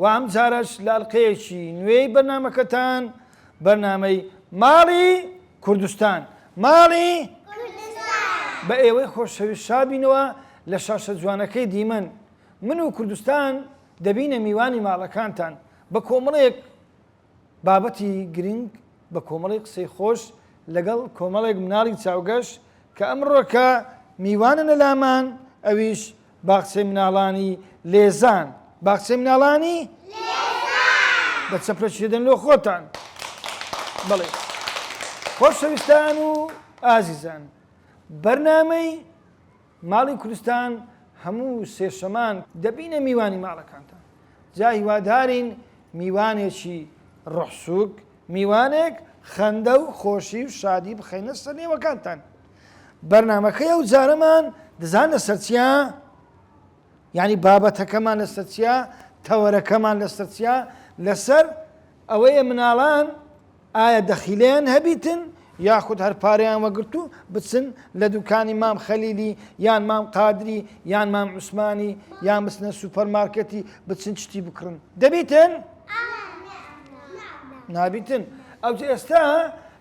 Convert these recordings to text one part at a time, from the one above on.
وە ئەمجارەش لە ئەڵقەیەکی نوێی بەرنامەکەتان بەرنامەی ماڵی کوردستان ماڵی کوردستان بە ئێوەی خۆشەویست شابینەوە لە شاشە جوانەکەی دیمەن من و کوردستان دەبینە میوانی ماڵەکانتان بە کۆمەڵێک بابەتی گرنگ بە کۆمەڵی قسەی خۆش لەگەڵ کۆمەڵێک مناڵی چاوگەش کە ئەمڕۆکە میواننە لامان ئەویش باخچەی مناڵانی لێزان باخچەی مناڵانی بە چەپرەشێدن لۆ خۆتان بڵێ خۆشەویستان و ئازیزان بەرنامەی ماڵی کورستان هەموو سێشەمان دەبینە میوانی ماڵەکانتان جا هیوادارین میوانێکی ڕوحسوک میوانێک خەندە و خۆشی و شادی بخەینە سەر نێوەکانتان بەرنمەکەی ئەو جارەمان دەزان لە سەرچیا ینی بابەتەکەمان لە سەرچیا تەوەرەکەمان لە سەرچیا لەسەر ئەوەیە مناڵان ئایا دەخیلیان هەبیتن یاخود هەر پارەیان وەگرت و بچن لە دوکانی مام خەلیلی یان مام قادری یان مام عوسمانی یان بچنە سوپەر مارکێتی بچن شتی بکڕن دەبیتن؟ نابیتن ئەو ئێستا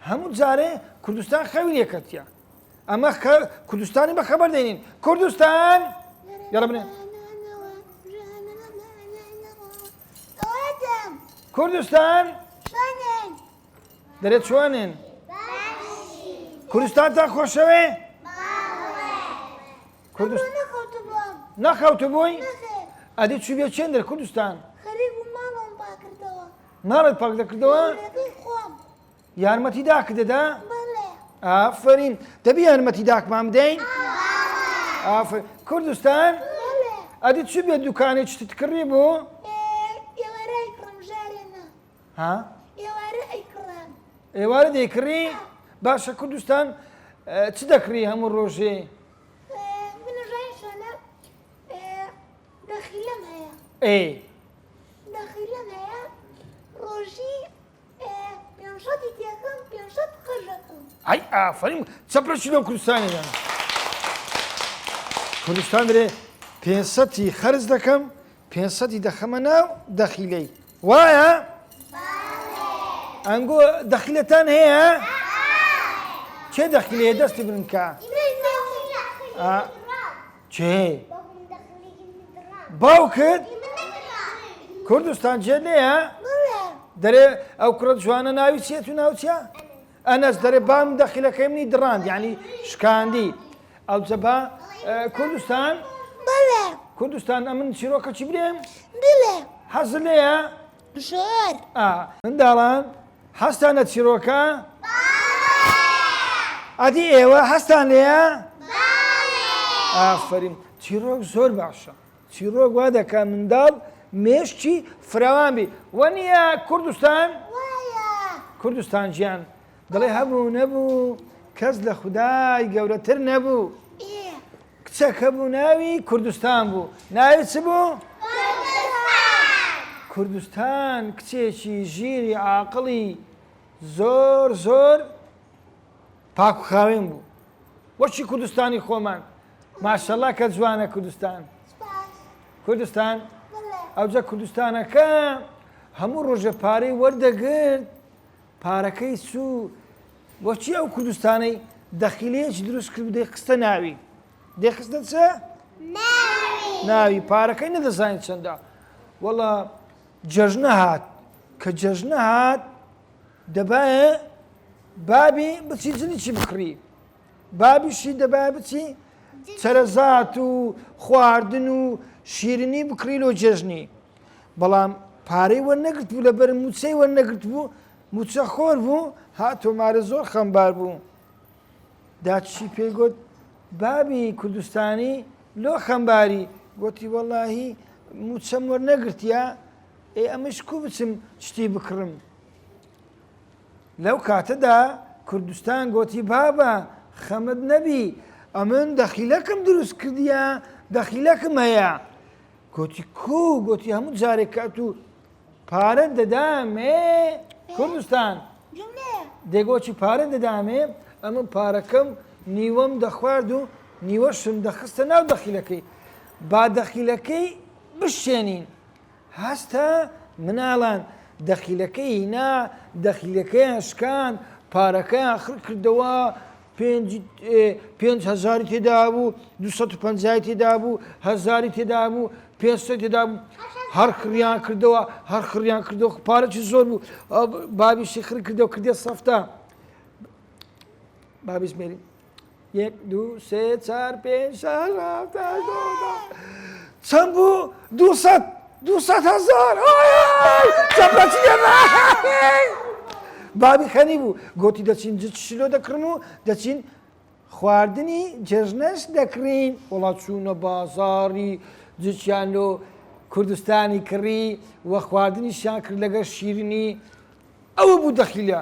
هەموو جارێ کوردستان خەوی لێکەتە ئەمە کوردستانی بە خەبەر دێنین کوردستان یاڕە بنێن قوتم کوردستان چۆنن دەرێ چۆنن کوردستان تا خۆشەوێ کوردستان نەخەوت بووی ئەدی چی بێ چێن دەر کوردستان ماڵت پاک دەکردەوە یارمەتی داک دەدا؟ ئافرین دەبی یارمەتی داکمان بدەین؟ کوردستان ئەدی چ بێ دوکانی چتت کڕی بۆ؟ ها؟ ئێوارە دەیکڕی باشە کوردستان چ دەکڕی هەموو ڕۆژێ؟ ئەی ئەی ئافەرین چە پرچی لەو کوردستانی دەن کوردستان درێ پێنسەتی خەرز دەکەم پێنسەتی دەخەمە ناو دەخیلەی وایە ئەنگۆ دەخیلەتان هەیە کێ دەخیلەیە دەستی بنکە کێ؟ باوکت؟ کوردستان جێ نەیە؟ دەرێ ئەو کوڕە جوانە ناوی چێت و ناوچە؟ ئەنەس دەرێ بام دەخیلەکەی منی دڕاند یعنی شکاندی ئەو جەبا کوردستان؟ کوردستان ئەمن چیرۆکەچی برێم؟ حەز لێە؟ ژۆر. ئا. منداڵان حەزتان لە چیڕۆکە؟ بەڵێ. ئەدی ئێوە حەزتان لێیە؟ بەڵێ. ئافەرین چیڕۆک زۆر باشە چیڕۆک وا دەکات منداڵ مێشکی فراوان بی وەنیە کوردستان؟ وایە. کوردستان گیان دەڵێ هەبوو نەبوو کەس لە خودای گەورەتر نەبوو کچەک هەبوو ناوی کوردستان بوو ناوی چ بوو؟ کوردستان کچێکی ژیری عاقڵی زۆر زۆر پاکخاوێن بوو وەچی کوردستانی خۆمان ماشەڵا کە جوانە کوردستان کوردستان ئەوجە کوردستانەکە هەموو ڕۆژە پارەی وەردەگرت پارەکەی چو بۆچی ئەو کوردستانەی دەخیلەیەکی دروست کرد و دەیخستە ناوی دەیخستە چ ناوی پارەکەی نەدەزانین چەندە وەڵا جەژنە هات کە جەژنە هات دەبایە بابی بچی جلی چی بکڕی بابیشی دەبا بچی چەرەزات و خواردن و شیرنی بکڕی لۆ جێژنی بەڵام پارەی وە نەگرت بوو لەبەر موچەی وە نەگرت بوو موچە خۆر بوو ها تۆمارە زۆر خەمبار بوو داچی پێی گوت بابی کوردستانی لۆ خەمباری گوتی وەڵاهی موچەم وەرنەگرتیا ئێ ئەمەش کو بچم شتی بکڕم لەو کاتەدا کوردستان گۆتی بابە خەمت نەبی ئەمن دەخیلەکم دروست کردیە دەخیلەکم هەیە گۆتی کو گۆتی هەموو جارێک کات و پارە دەدامێ کوردستان دەگۆچی پارە دەدامێ ئەمە پارەکەم نیوەم دەخوارد و نیوەشم دەخستە ناو دەخیلەکەی با دەخیلەکەی بشێنین هەستا مناڵان دەخیلەکەی هینا دەخیلەکەیان شکاند پارەکەیان خڕ کردەوە پێنج پێنج هەزاری تێدابوو دو سەد و پەنجای تێدابوو هەزاری تێدابوو پێنج سەد تێدابوو هەر خڕیان کردەوە هەر خڕیان کردەوە پارەی زۆر بوو بابیشی خڕ کردەوە کردێ سەفتا بابیش مێری یەک دوو سێ چار پێنج شەش هەفت هەشت نۆ دە چەند بوو دوو سەد دوو سەد هەزار چەپەچی بابی خەنی بوو گوتی دەچین جچ شلۆ دەکڕم و دەچین خواردنی جێژنەش دەکڕین وڵات چوونە بازاری جچیان لۆ کوردستانی کڕی و خواردنیشیان کرد لەگەر شیرنی ئەوە بوو دەخیلە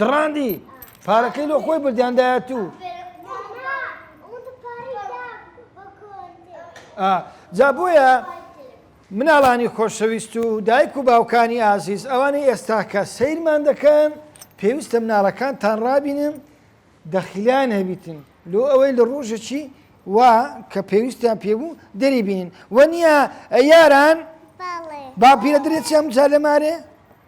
دڕاندی پارەکەی لۆ خۆی بردیان دایە تو جا بۆیە مناڵانی خۆشەویست و دایک و باوکانی ئازیز ئەوانەی ئێستاکە سیرمان دەکەن پێویستە مناڵەکان تان ڕابینن دەخیلیان هەبیتن لۆ ئەوەی لە ڕۆژەکی وا کە پێویستیان پێبوو دەری بینن وە نییە یاران باپیرە درێچیان جا لە مارێ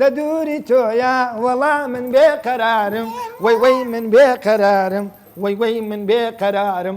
لە دووری تۆیا وەڵا من بێ قەرارم وەی وەی من بێ قەرارم وەی وەی من بێ قەرارم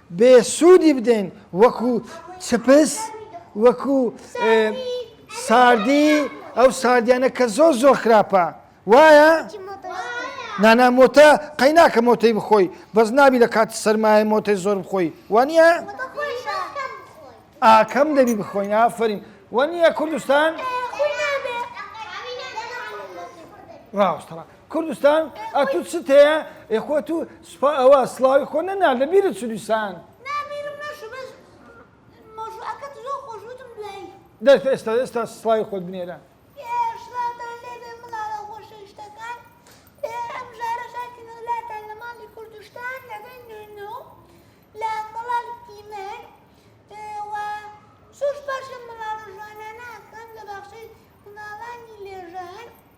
بێ سوودی بدەین وەکو چپس وەکو ساردی ئەو ساردیانە کە زۆر زۆر خراپە وایە نانا مۆتە قەی ناکە مۆتەی بخۆی بەس نابی لە کاتی سەرمایە مۆتەی زۆر بخۆی وانە ئاکەم دەبی بخۆین ئافرین وە نییە کوردستان ڕاوستڕە کوردستان ئەتوو چت هەیە ئێخۆ تو سوپا ئەوە سلاوی خۆ نەنا لە بیرت سودیسان دەست ئێستا ئێستا سڵاوی خۆت بنێرە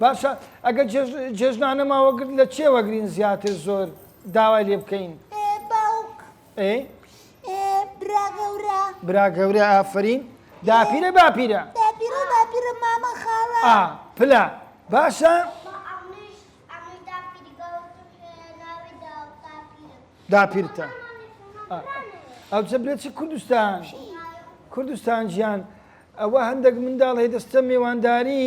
باشە ئەگەر جێژنانە ماوە گرت لە چێ وەگرین زیاتر زۆر داوای لێ بکەین برا گەورە ئافرین داپیرە باپیرە پلا باشە داپیرتە ئەو چە برێت چ کوردستان کوردستان گیان ئەوە هەندێک منداڵ هەیە دەستە مێوانداری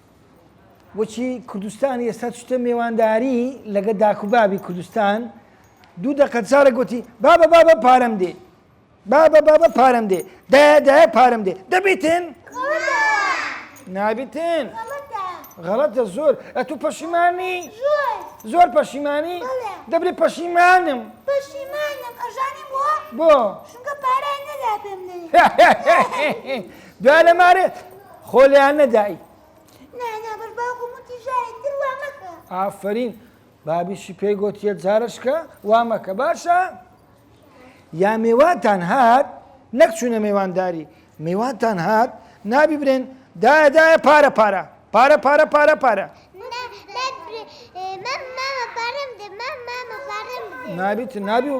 وەچی کوردستان ئێستا چتە مێوانداری لەگە داکو بابی کوردستان دوو دەقە چارە گوتی بابە بابە پارەم دێ بابە بابە پارەم دێ دایە دایە پارەم دێ دەبیتن نابیتن غەڵەتە زۆر ئە تو پەشیمانی زۆر پەشیمانی دەبێ پەشیمانم پەشیمانم ئەژانم بۆ بۆ شونکە پارای نەدا پێم دوا لە مارێت خۆ لەیان نەدایی ئافرین بابیشی پێی گوتیە جارشکە وا مەکە باشە یا مێواتان هات نەک چوونە مێوانداری مێواتان هات نابی برێن دایدایە پارە پارە پارە پارە پارە پارە نابیت نابی و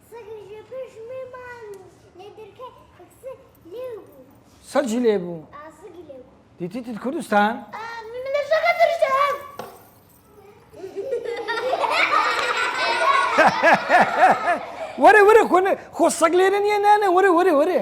سەگی لێ بوو دیتیتت کوردستان وەرە وەرە خۆ سەگ لێرە نییە نانە وەرە وەرە وەرێ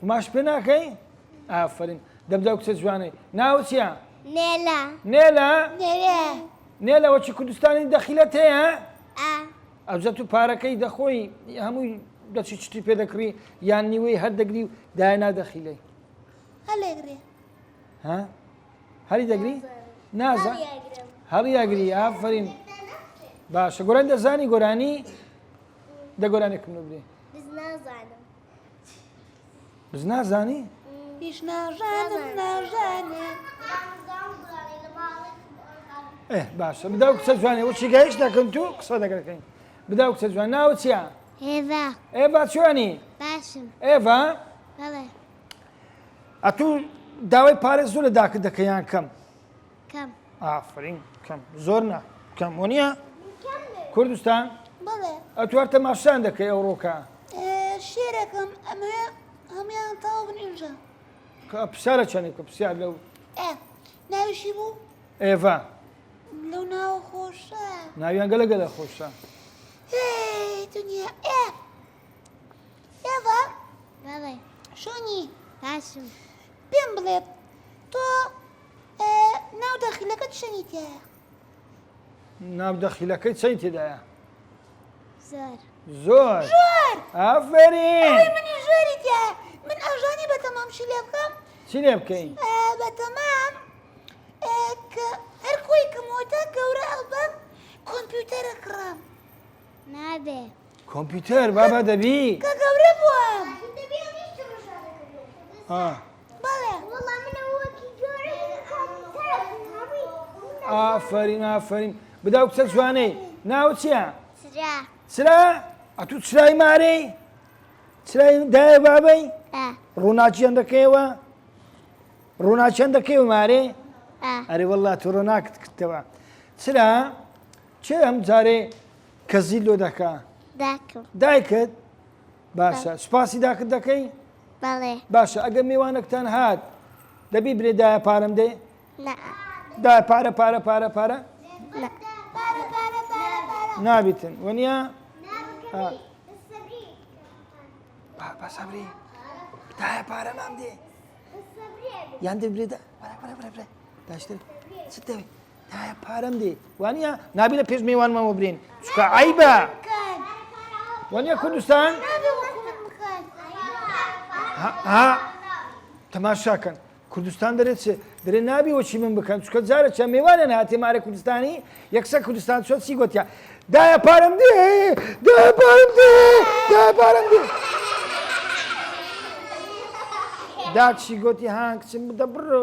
قوماش پێ ناکەی؟ ئافرین دەبدا کچە جوانەی ناوە چیە؟ نێلا نێلا نێلا وەچی کوردستانی دەخیلەت هەیە؟ ئەوجە تو پارەکەی دەخۆی هەمووی دەچی چتی پێ دەکڕی یان نیوەی هەر دەگری و داینا دەخیلەی هەری دەگری؟ نازە هەڵیاگری ئافرین باشە گۆران دەزانی گۆرانی؟ دە گۆرانێکم لۆ بلێ بز نازانم بز نازانی؟ هیچ ناژانم ناژانێ ئێ باشە بدا و کچە جوانێ وەچی گەیش دەکەن تو قسە دەگەکەین بدا و کچە جوان ناوە چیە؟ هێڤا ئێڤا چوانی؟ باشم ئێڤا؟ بەڵێ ئەتوو داوای پارێز زۆر لە داکت دەکەیان کەم کەم ئافرین کەم زۆر نا کەم وەنیە کوردستان ئەتوار تەماشان دەکەی ئەو ڕۆکە شێرەکەم ئەمە هەمویان تاو بنیژە پسالە چەندێک کە پرسیار لەو ناویشی بوو ئێڤا لەو ناو خۆشە ناویان گەلە گەلە خۆشە دنیا ئێ ئێڤا شۆنی باشم پێم بڵێت تۆ ناو داخیلەکە چەنی تایە؟ ناو داخیلەکەی چەنی تێدایە؟ زۆر زۆر زۆر ئافرین منی زۆری تیا من ئەژانی بە تەمام چی لێ بکەم چی لێ بکەین بە تەمام هەر کۆی کەمەوەتا گەورە ئەڵبەم کۆمپیوتەرە کڕم نابێ کۆمپیوتەر بابا دەبی کە گەورە بووم بەڵێ ئافرین ئافرین بدا و کچە جوانەی ناو چییە چرا ئەتو چرای مارەی چرای دایە بابەی ڕووناچیان دەکەیەوە ڕووناچیان دەکەی و مارێ ئەرێ وەڵات ڕۆناکت کردەوە چرا کێ ئەم جارێ کەزی لۆ دەکا؟ داکم. دایکت؟ باشە سوپاسی داکت دەکەی؟ بەڵێ. باشە ئەگەر میوانەکتان هات دەبی برێ دایە پارەم دێ؟ نا. دا پارە پارە پارە پارە؟ نا. نابیتن وەنیا؟ بابا سەبری دایە پارە نام دێ یان دەبرێدا داشتر چ دەوێت؟ دایە پارەم دێ وانە نابی لە پێش میوانمەوە برێن چکە عیبە وانە کوردستان تەماشاکەن کوردستان دەرێت چێ دەرێ نابی وەچی من بکەن چکە جارە چە میوانە هاتێ مارە کوردستانی یەکسە کوردستان چۆ چی گوتیا دایە پارەم دێ دایە پارم دێ دایە پارم دێ داچی گوتی هاکچم بدە بڕۆ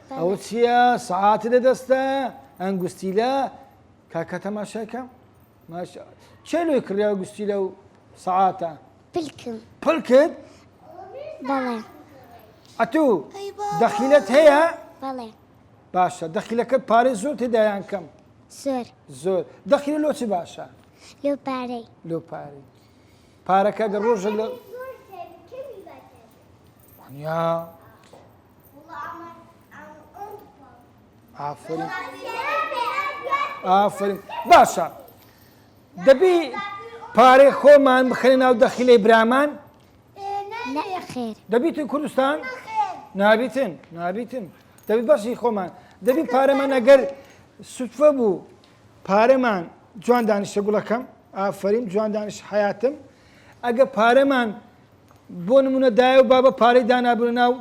ئەوە چییە سەعاتی لە دەستە ئەنگوستیلە کاکە تەماشاکەم چێ لۆی کڕیا گوستی لە و سەعاتە پلکم پلکت بەڵێ ئەتوو دەخیلت هەیە بەڵێ باشە دەخیلەکەت پارێ زۆر تێدایان کەم زۆر زۆر دەخیل لۆ چی باشە لۆ پارەی لۆ پارەی پارەکە گە ڕۆژە لە یا ئافرین ئافرین باشە دەبی پارەی خۆمان بخێنە ناو دەخیلەی برامان دەبیتن کوردستان نابیتن نابیتن دەبی بەشی خۆمان دەبی پارەمان ئەگەر سوفە بوو پارەمان جوان دانیشتە گوڵەکەم ئافرین جوان دانیش حیاتم ئەگە پارەمان بۆ نمونە دایە و بابە پارەی دانابوونە ناو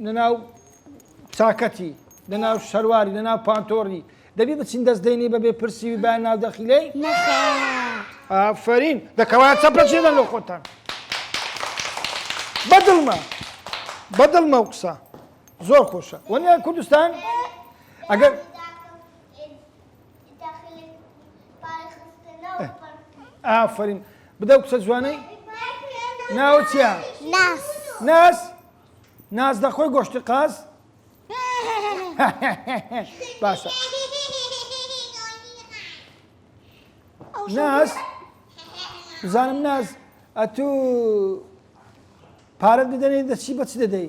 نەناو چاکەتی لەناو شەرواری لەناو پانتۆڕی دەبی بچین دەست دەینی بەبێ پرسی و بای ناو دەخیلەی ئافرین دەکەوا چەپەچێدەن لە خۆتان بەدڵمە بەدڵمە و قسە زۆر خۆشە وەنیان کوردستان ئەگەر ئافرین بدە و کچە جوانەی ناوە چیا ناس ناز دەخۆی گۆشتی قاز باشە ناس بزانم ناز ئەتوو پارەت بدەنێ دەچی بەچ دەدەی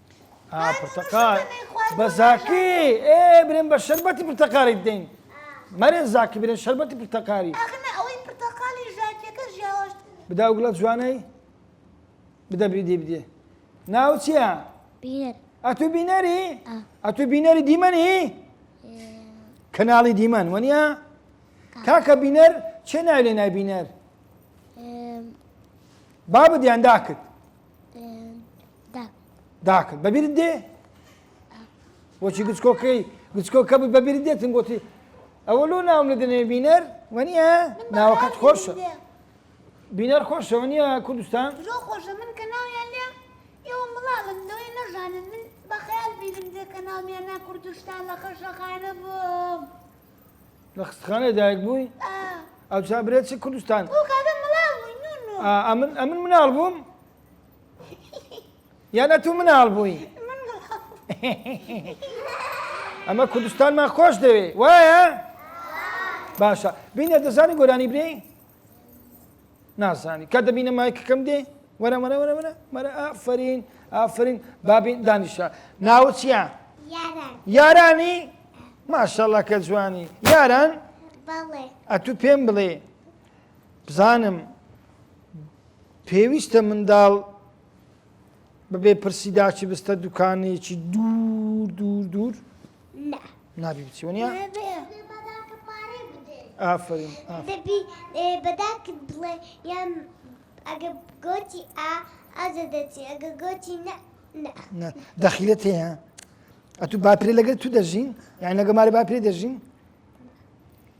ئا پرتەقال بە زاکی ئێ برێن بە شەربەتی پرتەقالی بدەین مەرێن زاکی برێن شەربەتی پرتەقالی بدا و گڵە جوانەی بدە بریدی بدێ ناو چییە؟ ئەتو بینەری؟ ئەتو بینەری دیمەنی؟ کەناڵی دیمەن وەنیە؟ کاکە بینەر چێ ناوی لێ نای بینەر؟ بابدیان داکت داکرد بەبیرت دێ بۆچی گچکۆکەی گچکۆکە بووی بەبیرت دێتن گوتی ئەوە لۆ ناوم لە دەنێ بینەر وەنیە ناوەکەت خۆشە بینەر خۆشە وەنیە کوردستان خۆشە من کە ناویان لێ ئێوە مڵاڵم لەوەی نەژانن من بەخیال بیرم دێ کە ناومیان نا کوردستان لە خەشەخانە بووم لە خستخانە دایک بووی ئەو چابرێت چ کوردستان ئەمن ئەمن مناڵ بووم یان ئەتوو مناڵ بووی ئەمە کوردستانمان خۆش دەوێ وایە باشە بینە دەزانی گۆرانی برێ نازانی کە دەبینە مایکەکەم دێ وەرە وەرە وەرە وەرە وەرە ئافرین ئافرین بابین دانیشە ناو چیە یارانی ماشەڵە کە جوانی یاران ئەتوو پێم بڵێ بزانم پێویستە منداڵ بەبێ پرسی داچی بستە دوکانێکی دوور دوور دوور نابی بچی وەنیا ئافرین بەداکت بڵێ یان ئەگە گۆتی ئا ئازە دەچی ئەگە گۆتی نە دەخیلە تێە ئەتو باپرێ لەگەر تو دەژین یان لەگە ماری باپرێ دەژین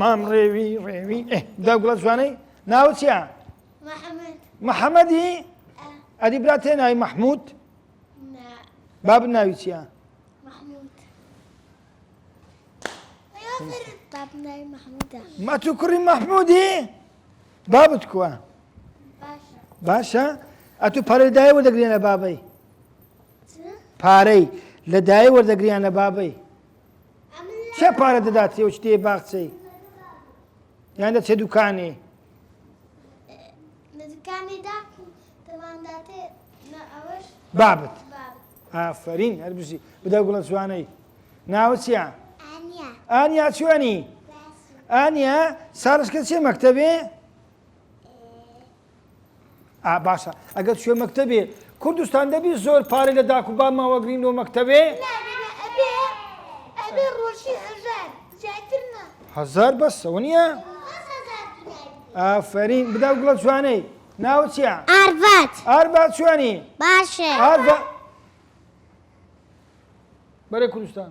مام ڕێوی ڕێوی داگوڵە جوانەی ناوە چیە؟ محەممەدی ئەدی برا تێ ناوی مححمود باب ناوی چیە؟ ما تو کوڕی مححمودی بابت کووە باشە ئە تو پارەی دای وەردەگرێنە بابەی پارەی لە دای وەردەگریان لە بابەی چێ پارە دەدات تێوچ تێ باخچەی یان دەچێ دوکانێ بابت ئافرین هەر بژی بدە گوڵە جوانەی ناوچیا ئانیا چوانی ئانیا ساڵشکە چێ مەکتتەبێ ئا باشە ئەگەر شوێ مەکتەبێ کوردستان دەبی زۆر پارە لە داکو با ماوەگرین لۆ مەکتەبێ هزار بەسەوە نییە ئافرین بدا گوڵە جوانەی ناوە چیە ئاربات ئاربات جوانی باشە ئاربا بەرە کوردستان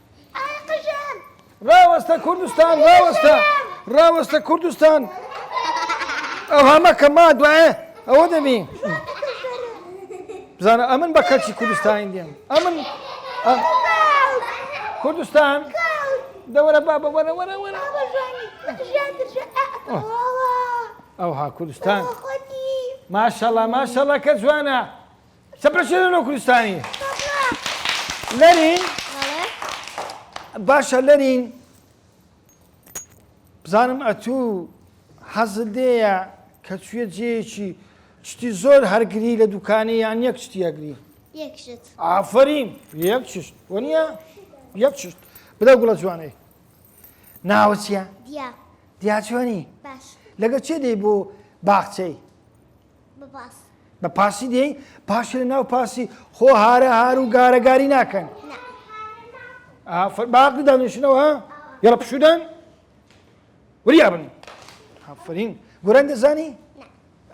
ڕاوەستە کوردستان ڕاوەستە ڕاوەستە کوردستان ئەو هەمە کە ما دوایە ئەوە دەبی بزانە ئەمن بە کەچی کوردستانی دێم ئەمن کوردستان دەوەرە با بە وەرە وەرە وەرە ئەوها کوردستان ماشەڵە ماشەڵە کە جوانە چەپرە شێرە نۆ کوردستانی لەرین باشە لەرین بزانم ئەتوو حەزت لێیە کە چویە جێیەکی شتی زۆر هەرگری لە دوکانی یان یەک شتی هەگری ئافرین یەک شت وەنیە یەک شت بدە گوڵە جوانەی ناوە چیە دیاچوانی لەگە چێ دەی بۆ باخچەی بە پاس. بە پاسی دێی پاشی لە ناو پاسی خۆ هارە هار و گارەگاری ناکەن باقی دانیشنەوە یڵە پشودان وریا بن هەفرین گوران دەزانی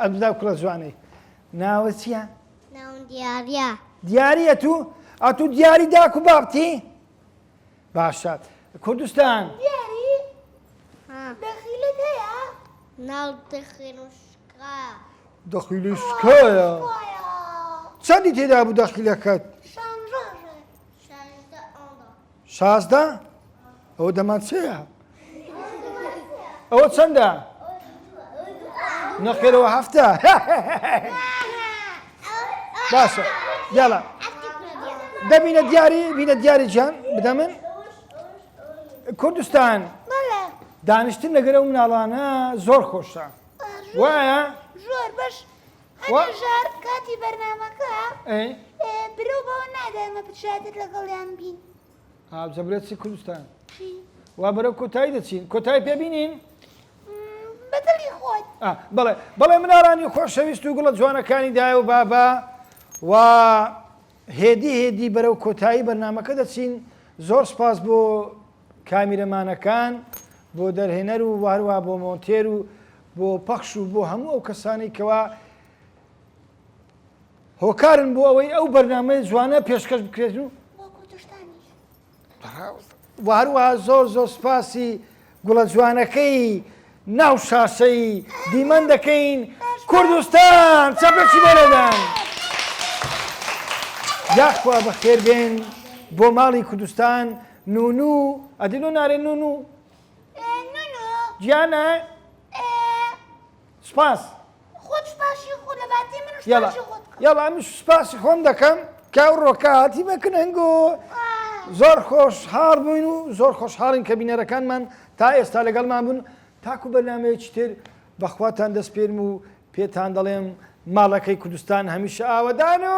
ئەمدا کوڵە جوانەی ناوە چییە؟ دیارە دیارە تو ئەتو دیاری داکو بابتی؟ باشە کوردستان. دیاری دەخیلت هەیە؟ ناو دەخیل و شکایە. دەخیل و شکایە؟ چەندی تێدا بوو دەخیلەکەت؟ شانزدە. شازدە؟ ئەوە دەمان چێە؟ ئەوە چەندە؟ نەخێرەوە هەفتە باشە یاڵە دەبینە دیاری بینە دیاری جان بدە من کوردستان دانیشتن لەگەرە و مناڵانە زۆر خۆشە وایە زۆر بەش ژار کاتی بەرنمەکە برو بۆ نادەمە بچێت لەگەڵیان بین هاوجە برێ چی کوردستان وا بەرەو کۆتایی دەچین کۆتایی پێبینین بەدڵی خۆت بڵێ بڵێ منارانی خۆشەویست و گوڵە جوانەکانی دایە و بابا و هێدی هێدی بەرەو کۆتایی بەرنمەکە دەچین زۆر سپاس بۆ کامیرەمانەکان بۆ دەرهێنەر و واروا بۆ مۆنتێر و بۆ پەخش و بۆ هەموو ئەو کەسانی کەوا هۆکارن بۆ ئەوەی ئەو بەرنامەیە جوانە پێشکەش بکرێت و هەروەها زۆر زۆر سپاسی گوڵە جوانەکەی ناو شاشەی دیمەن دەکەین کوردستان چەپێکی بەرەدان یاخوا بەخێر بێن بۆ ماڵی کوردستان نون و ئەدینۆ نارێن نون و گیانە سپاس. خۆت سوپاشی خۆ دەباتی من سوپاشی خۆت بکەم. یەڵا من سوپاسی خۆم دەکەم کە ئەو ڕۆکە هاتی بە کنەنگ و زۆر خۆش حاڵ بووین و زۆر خۆش حاڵین کە بینەرەکانمان تا ئێستا لەگەڵمان بوون تاکو بەرنامەیەکی تر بەخواتان دەسپێرم و پێتان دەڵێم ماڵەکەی کوردستان هەمیشە ئاوەدان و